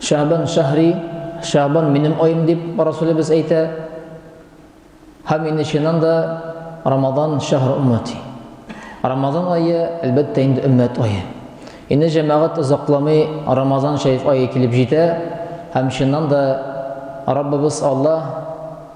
Шәгъбан шәһри, Шәгъбан минем аем дип Расулебез әйтә. Һәм инде чыннан да Рамазан шәһр уммати. Рамазан айы, әлбәттә, инде өммәт айы. Инде җәмәгать озакламый Рамазан шәриф айы килеп җитә, һәм чыннан да Раббыбыз Аллаһ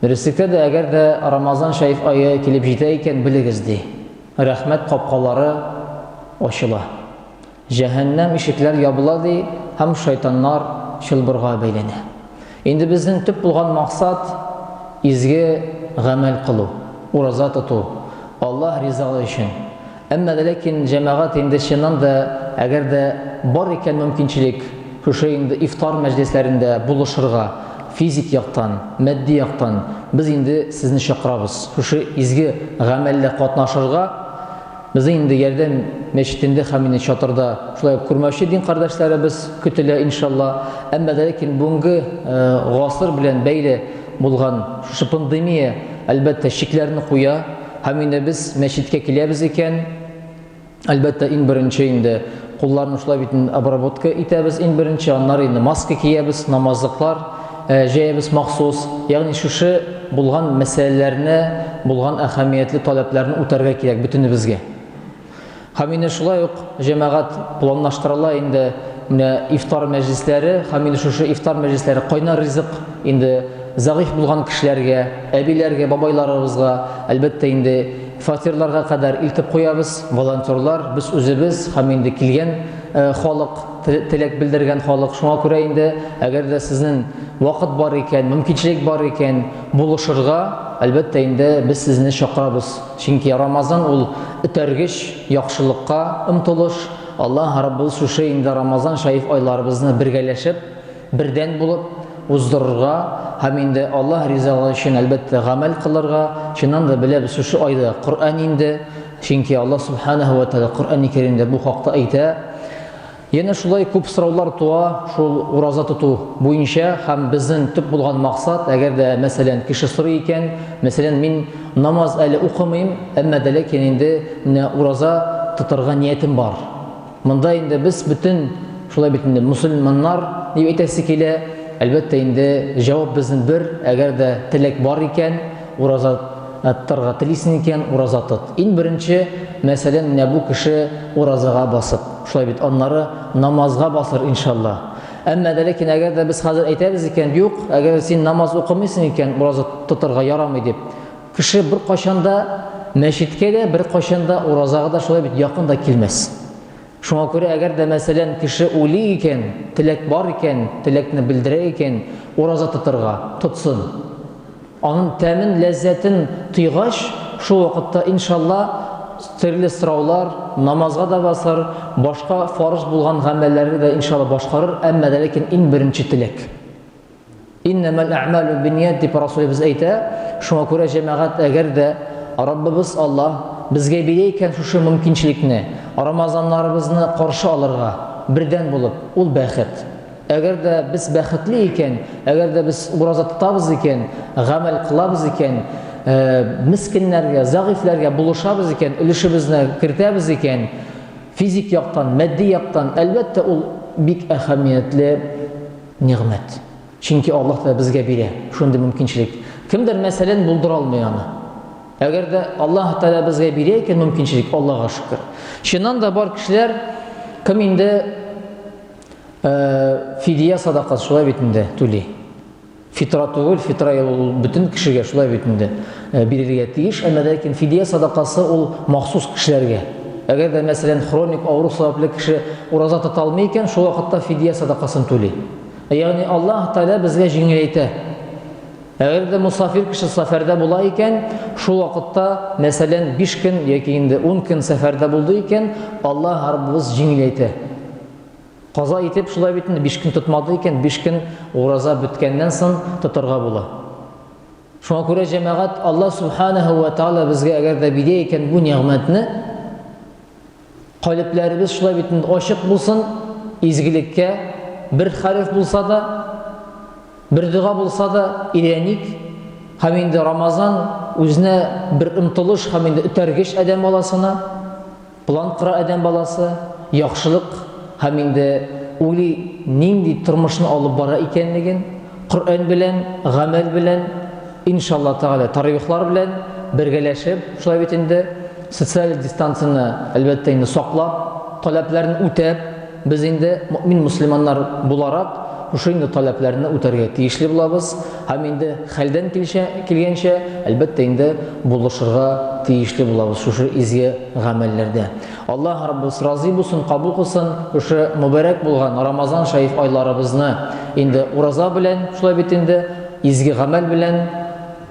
Дөреслектә дә, әгәр дә Рамазан шәриф ае килеп җитә икән, белегез, ди, рәхмәт капкалары ачыла. Җәһәннәм ишекләр ябыла, ди, һәм шайтаннар чылбырга бәйләнә. Инде безнең төп булган максат, изге гамәл кылу, ураза тоту, Аллаһ ризалыгы өчен. Әмма дә ләкин җәмәгать инде чыннан да, әгәр дә бар икән мөмкинчелек, шушы инде ифтар мәҗлесләрендә булышырга, физик яктан, матди яктан без инде сезне чакырабыз, шушы изге гамәлдә катнашырга, безнең инде Ярдәм мәчетендә һәм инде чатырда шулай ук күрмәүче дин кардәшләребез көтелә, иншалла. Әмма дә ләкин бүгенге гасыр белән бәйле булган шушы пандемия, әлбәттә, чикләрне куя. Һәм инде без мәчеткә киләбез икән, әлбәттә, иң беренче инде кулларны шулай бит обработка итәбез иң беренче, аннары инде маска киябез, намазлыклар э, җәябез махсус. Ягъни шушы булган мәсьәләләрне, булган әһәмиятле таләпләрне үтәргә кирәк бөтенебезгә. Һәм инде шулай ук җәмәгать планлаштырыла инде менә ифтар мәҗлесләре, һәм инде шушы ифтар мәҗлесләре кайнар ризык инде зәгыйфь булган кешеләргә, әбиләргә, бабайларыбызга, әлбәттә инде фатирларга кадәр илтеп куябыз, волонтерлар, без үзебез һәм инде килгән халык, теләк белдергән халык. Шуңа күрә инде, әгәр дә сезнең вакыт бар икән, мөмкинчелек бар икән, булышырга, әлбәттә инде без сезне чакырабыз. Чөнки Рамазан ул, этәргеч, яхшылыкка омтылыш. Аллаһ Раббыбыз шушы инде Рамазан шәриф айларыбызны бергәләшеп, бердән булып уздырырга һәм инде Аллаһ ризалыгы өчен, әлбәттә, гамәл кылырга, чыннан да, беләбез, шушы айда Коръән инде, чөнки Аллаһ Сүбхәнәһү вә Тәгалә Коръәни Кәримдә бу хакта әйтә. Янә шулай күп сораулар туа шул ураза тоту буенча һәм безнең төп булган максат, әгәр дә, мәсәлән, кеше сорый икән, мәсәлән, мин намаз әле укымыйм, әмма дә ләкин инде менә ураза тотарга ниятем бар. Монда инде без бөтен, шулай бит инде, мөселманнар дип әйтәсе килә, әлбәттә инде, җавап безнең бер, әгәр дә теләк бар икән, Ураза аттырга телисең икән, ураза тот. Иң беренче, мәсәлән, менә бу кеше уразага басып, шулай бит, аннары намазга басыр, иншалла. Әмма дә ләкин әгәр дә без хәзер әйтәбез икән, юк, әгәр син намаз укымыйсың икән, ураза тотырга ярамый дип. Кеше бер кайчан да мәчеткә дә, бер кайчан да уразага да шулай бит якын да килмәс. Шуңа күрә әгәр дә, мәсәлән, кеше уйлый икән, теләк бар икән, теләкне белдерә икән, ураза тотырга, тотсын. Анын тәмен, ләззәтен тойгач, шул вакытта, иншалла, төрле сораулар, намазга да басар, башка фарыз булган гамәлләрне дә, иншалла, башкарыр, әмма дә ләкин иң беренче теләк. Иннәмәл әъмәлу бинният дип Расулебез әйтә. Шуңа күрә җәмәгать, әгәр дә Раббыбыз Аллаһ безгә бирә икән шушы мөмкинчелекне, Рамазаннарыбызны каршы алырга, бердәм булып, ул бәхет. Әгәр дә без бәхетле икән, әгәр дә без ураза тотабыз икән, гамәл кылабыз икән, мескеннәргә, зәгыйфьләргә булышабыз икән, өлешебезне кертәбез икән, физик яктан, матди яктан, әлбәттә, ул бик әһәмиятле Нигъмәт. Чөнки Аллаһ Тәгалә безгә бирә шундый мөмкинчелек. Кемдер, мәсәлән, булдыра алмый аны. Әгәр дә Аллаһ Тәгалә безгә бирә икән мөмкинчелек, Аллаһка шөкер. Чыннан да бар кешеләр, кем инде э, фидия садакасы шулай бит инде түли. Фитра түгел, фитра ул бөтен кешегә шулай бит инде. Э, бирергә тиеш, әмма ләкин фидия садакасы ул махсус кешеләргә. Әгәр дә, мәсәлән, хроник авыру сәбәпле кеше ураза тота алмый икән, шул вакытта фидия садакасын түли. Э, ягъни Аллаһ Тәгалә безгә җиңеләйтә. Әгәр дә мусафир кеше сәфәрдә була икән, шул вакытта, мәсәлән, 5 көн яки инде 10 көн сәфәрдә булды икән, Аллаһ Раббыбыз җиңеләйтә. Каза итеп шулай бит инде 5 көн тотмады икән, 5 көн ураза беткәннән соң тотарга була. Шуңа күрә җәмәгать Аллаһ Субханаһу ва Тааля безгә әгәр дә бирә икән бу нигъмәтне, калебләребез шулай бит инде ачык булсын, изгелеккә бер хәреф булса да, бер дога булса да иреник, һәм инде Рамазан үзенә бер омтылыш һәм инде үтәргеч адәм баласына План кора адәм баласы, яхшылык һәм инде уйлый, нинди тормышны алып бара икәнлеген, Коръән белән, гамәл белән, иншалла тәгалә, тарәвихлар белән бергәләшеп, шулай бит инде, социаль дистанцияне, әлбәттә инде, саклап, таләпләрен үтәп. Без инде, мөэмин мөселманнар буларак, шушы инде таләпләрне үтәргә тиешле булабыз һәм инде хәлдән килчә, килгәнчә, әлбәттә инде, булышырга тиешле булабыз шушы изге гамәлләрдә. Аллаһ Раббыбыз разый булсын, кабул кылсын шушы мөбарәк булган Рамазан шәриф айларыбызны инде ураза белән, шулай бит инде, изге гамәл белән